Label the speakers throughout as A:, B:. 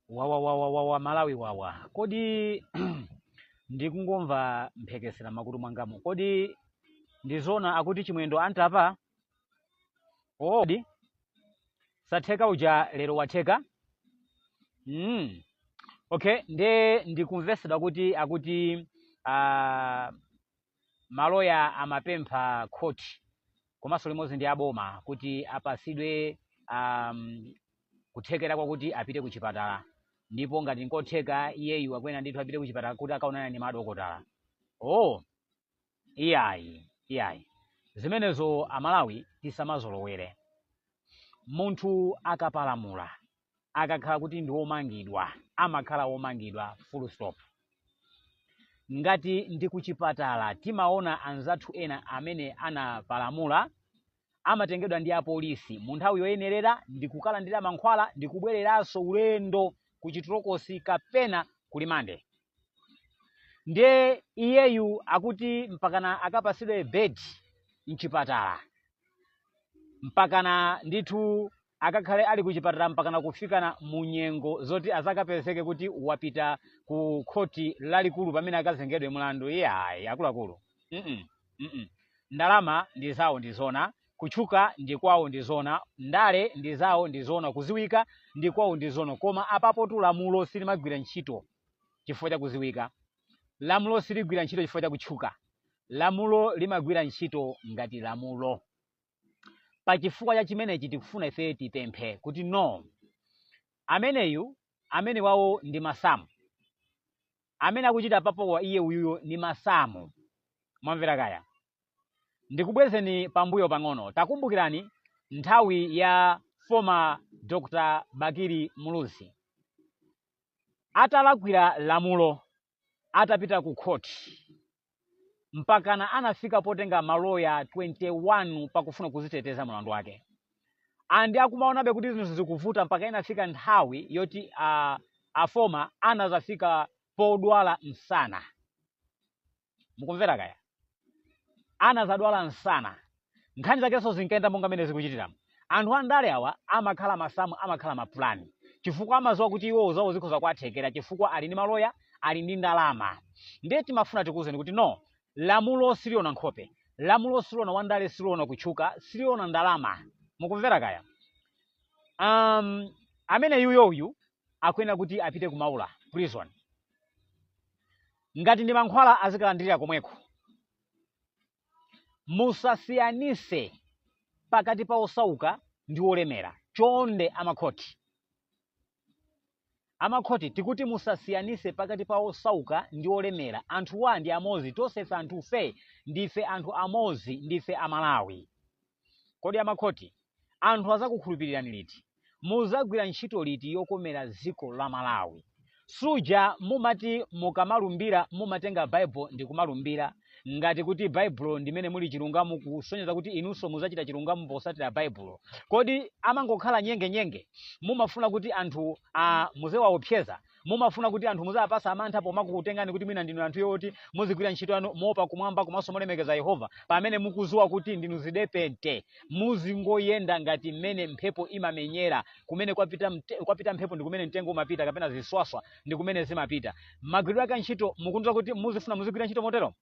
A: wawa wawa wawa malawi wawa kodi ndikungomva mphekesera makutu mwangamu kodi ndizona akuti chimwendo antapa odi satheka uja lero watheka mm. okay nde ndikumvetsedwa kuti akuti uh, maloya amapempha khoti komanso limodzi ndi aboma kuti apatsidwe um, kuthekera kwakuti apite ku chipatala ndipo ngati nkotheka iyeyu akuyenera ndithu apite ku chipatala kuti akaonane ndi madokotala oh iyayi iyayi zimenezo amalawi tisamazolowere munthu akapalamula akakhala kuti ndi womangidwa amakhala womangidwa full stop ngati ndi kuchipatala timaona anzathu ena amene anapalamula amatengedwa ndi apolisi mu nthawi yoyenerera ndi kukalandira mankhwala ndi kubwereranso ulendo ku chitolokosi kapena kulimande ndiye iyeyu akuti mpakana akapatsidwe bed mchipatala mpakana ndithu akakhale ali kuchipatala mpakana kufikana mu nyengo zoti azakapezeke kuti wapita ku khoti lalikulu pamene akazengedwe mlandu iyayi akuluakulu mm mm ndalama ndi zawo ndi zona kutchuka ndi kwawo ndi zona ndale ndi zawo ndi zona kuziwika ndi kwawo ndi zona koma apapotu lamulo silimagwira ntchito chifukwa cha kuziwika lamulo siligwira ntchito chifukwa cha kutchuka lamulo limagwira ntchito ngati lamulo pa chifukwa cha chimenechi tikufuna ife tipemphe kuti no ameneyu amenewawo ndi masamu amene akuchita papowa iye uyuyo ndi masamu mwamvera kaya ndikubwezeni pambuyo pang'ono takumbukirani nthawi ya former dr bakili muluzi atalakwira lamulo atapita ku khoti mpakana anafika potenga maloya 21 pakufuna kuziteteza mlandu wake andi akumaonabe kuti zinthu zikuvuta mpaka inafika nthawi yoti a former anazafika podwala msana mukumvera kaya anazadwala msana nkhani zakenso zinkayenda monga mmene zikuchitiramu anthu andale awa amakhala masamu amakhala mapulani chifukwa amaziwa kuti iwowo zawo zikhoza kuwathekera chifukwa ali ndi maloya ali ndi ndalama ndiye timafuna tikuwuzeni kuti no lamulo siliona nkhope lamulo siliona wandale siliona kutchuka siliona ndalama mukumvera kaya um, ameneyuyo uyu akuyenera kuti apite ku maula prison ngati ndi mankhwala azikalandirira komweko Musasiyanise pakati pa osauka ndi olemera chonde amakhoti. Amakhoti tikuti musasiyanise pakati pa osauka ndi olemera anthuwa ndi amozi tonsefe anthufe ndife anthu amozi ndife amalawi. Kodi amakhoti, anthu azakukhulupirirani liti? Muzagwira ntchito liti yokomera ziko la Malawi? Suja mumati mukamalumbira mumatenga Bible ndikumalumbira, ngati kuti Baibulo ndimene muli chilungamo kusonyeza kuti inunso muzachita chilungamo posatira Baibulo. Kodi amangokhala nyenge nyenge? Mumafuna kuti anthuwa muziwaopseza mumafuna kuti anthu muziwapasa mantha pomakukutengani kuti mwina ndinu anthu yoti muzigwira ntchito yanu moopa kumwamba komanso molemekeza yehova pamene mukuziwa kuti ndinu zidepente muzingoyenda ngati mmene mphepo imamenyera kumene kwapita mphepo ndi kumene mtengo umapita kapena ziswaswa ndi kumene zimapita magwiridwe ake ntchito mukundiuza kuti muzifuna muzigwira ntchito motero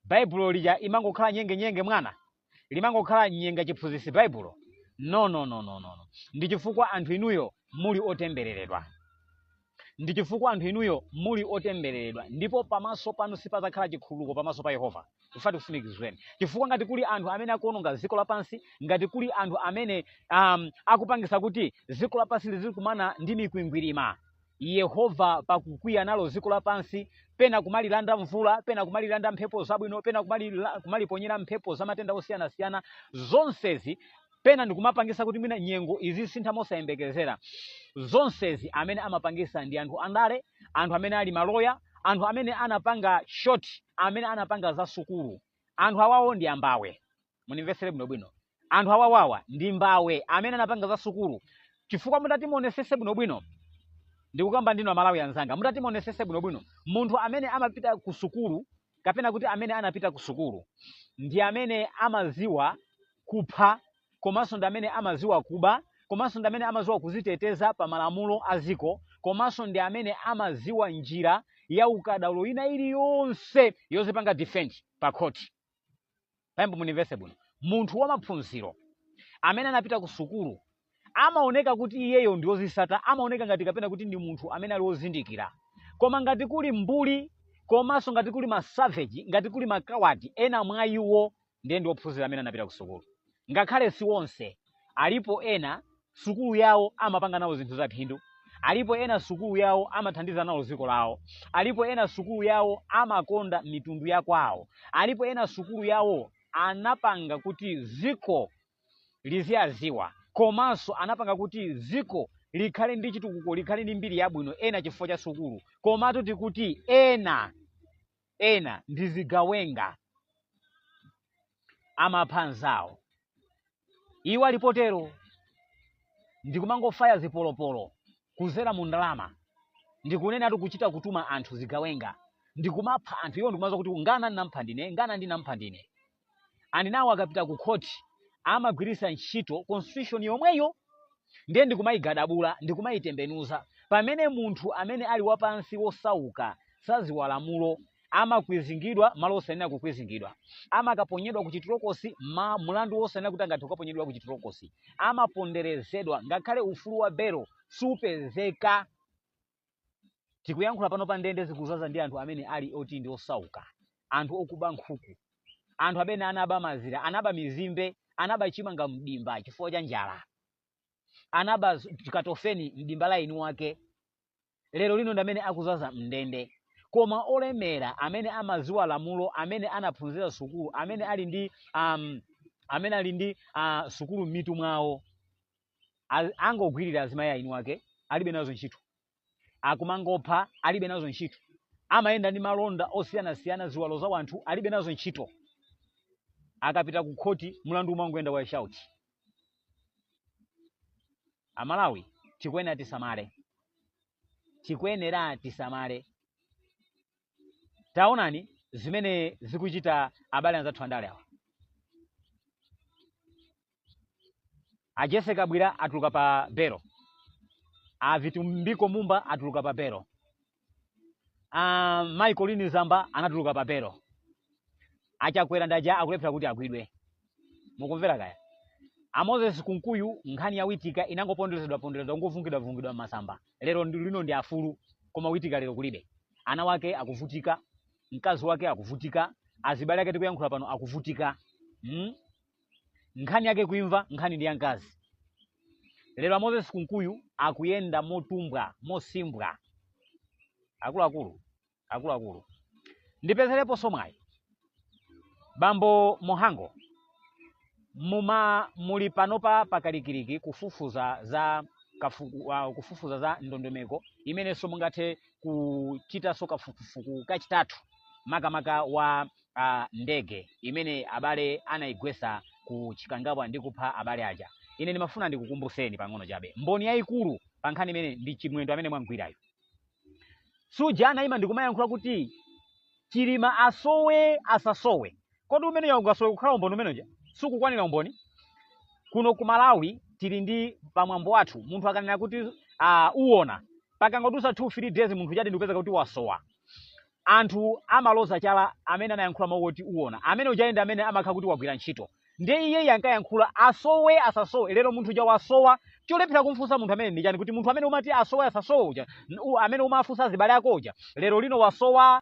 A: baibulo lija imangokhala nyenge nyenge mwana limangokhala nyenge chiphunzitsi baibulo no no no no no no. ndi chifukwa anthu inuyo muli otembereredwa ndi chifukwa anthu inuyo muli otembereredwa ndipo pamaso panu sipazakhala chikhululuko pamaso pa yehova tifuna tikusimikizireni chifukwa ngati kuli anthu amene akuononga dziko lapansi ngati kuli anthu amene um, akupangisa kuti dziko lapansi lizikumana ndi mikwingwirima Yehova pakukwiya nalo dziko lapansi, pena kumalilanda mvula, pena kumalilanda mphepo zabwino, pena kumaliponyera mphepo za matenda osiyanasiyana, zonsezi pena ndikumapangisa kuti mwina nyengo izisintha mosayembekezera. Zonsezi amene amapangisa ndi anthu andale, anthu amene ali maloya, anthu amene anapanga short, amene anapanga za sukulu. Anthu awawo ndi ambava. mundimvesere bwinobwino anthu awawawa ndi mbava amene anapanga za sukulu chifukwa mutati muonesese bwinobwino ndikukamba ndi inu amalawi anzanga mutati muonesese bwinobwino munthu amene amapita ku sukulu kapena kuti amene anapita ku sukulu ndi amene amaziwa kupha komanso ndi amene amaziwa kuba komanso ndi amene amaziwa kuziteteza pa malamulo a ziko komanso ndi amene amaziwa njira ya ukadaulo ina iliyonse yozipanga defend pa khoti pamene mundimvese bwino munthu wa maphunziro amene anapita ku sukulu amaoneka kuti iyeyo ndi wozisata amaoneka ngati kapena kuti ndi munthu amene ali wozindikira koma ngati kuli mbuli komanso ngati kuli masaveji ngati kuli makawati ena mwa iwo ndiye ndi ophunzira amene anapita ku sukulu ngakhale si onse alipo ena sukulu yawo amapanga nawo zinthu za phindu alipo ena sukulu yawo amathandiza nawo dziko lawo alipo ena sukulu yawo amakonda mitundu ya kwawo alipo ena sukulu yawo anapanga kuti dziko liziwaziwa komanso anapanga kuti dziko likhale ndi chitukuko likhale ndi mbiri yabwino ena chifukwa cha sukulu komatu tikuti ena ena ndi zigawenga amapha anzawo iwo ali potero ndi kumangofaya zipolopolo kuzera mu ndalama ndikunenatu kuchita kutuma anthu zigawenga ndikumapha anthu iwo ndikumadza kuti ngana ndinampha ndine ngana ndinampha ndine and nawo akapita ku khoti amagwiritsa ntchito constitution yomweyo ndiye ndikumayigadabula ndikumayitembenuza pamene munthu amene ali wapansi wosauka saziwa lamulo amakwizingidwa malo osayenera kukwizingidwa amakaponyedwa ku chitolokosi mulandu wosayenera kuti angathe kukaponyedwa ku chitolokosi amaponderezedwa ngakhale ufulu wa belo supezeka tikuyankhula panopa ndende zikuzaza ndi anthu amene ali oti ndi osauka anthu okuba nkhuku anthu amene anaba mazira anaba mizimbe anaba chimanga mdimba chifukwa cha njala anaba z- katofeni mdimba la eni wake lero lino ndi amene akuzaza mndende koma olemera amene amaziwa lamulo amene anaphunzira sukulu amene ali ndi um, amene ali ndi uh, sukulu m'mitu mwawo a- angogwirira azimayi a eni wake alibe nazo ntchito akumangopha alibe nazo ntchito amayenda ndi malonda osiyanasiyana ziwalo za wanthu alibe nazo ntchito akapita ku khoti mlandu umangoyenda wa shauti amalawi tikuyenera tisamale tikuyenera tisamale taonani zimene akuchita abale anzathu andale awa a jessie kabwila atuluka pa belo a vitumbiko mumba atuluka pa belo a colleen zamba anatuluka pa belo a chakwera ndi aja akulephera kuti agwidwe mukumva kaya a moses kunkuyu nkhani ya witika inangoponderezedwa ponderezedwa n'kuvungidwa vungidwa m'masamba lero ndi- lino ndi afulu koma witika lero kulibe ana wake akuvutika mkazi wake akuvutika azibale ake tikuyankhula pano akuvutika mm? nkhani yake kuimva nkhani ndi ya mkazi lero a moses kunkuyu akuyenda motumbwa mosimbwa akuluakulu akuluakulu ndipezereponso mwayi bambo mhango muma muli panopa pakalikiliki kufufuza za kafu, uh, kufufuza za ndondomeko imenenso mungathe kuchitanso kafukufuku kachitatu makamaka wa a ndege imene abale anayigwesa ku Chikangawa ndi kupha abale aja. Ine ndimafuna ndikukumbuseni pang'ono chabe. Mboni yayikulu pa nkhani imeneyi ndi Chimwendo amene mwamgwirayo. Suja anayima ndikumayankhula kuti Chilima asowe asasowe. Kodi umene sungasowe kukhala umboni umene uja? Sukukwanira umboni? Kuno ku Malawi tili ndi pamwambo wathu munthu akanena kuti uh, uwona pakangodusa 2 3 days munthu chati ndikupeza kuti wasowa anthu amaloza chala amene anayankhula mawu oti uona amene uja ndi amene amakhala kuti wagwira ntchito ndiye iyeyi ankayankhula asowe asasowe lero munthu uja wasowa cholephera kumfunsa munthu amene ndi chani kuti munthu amene umati asowe asasowe uja n- u- amene umafunsa azibale ako uja lero lino wasowa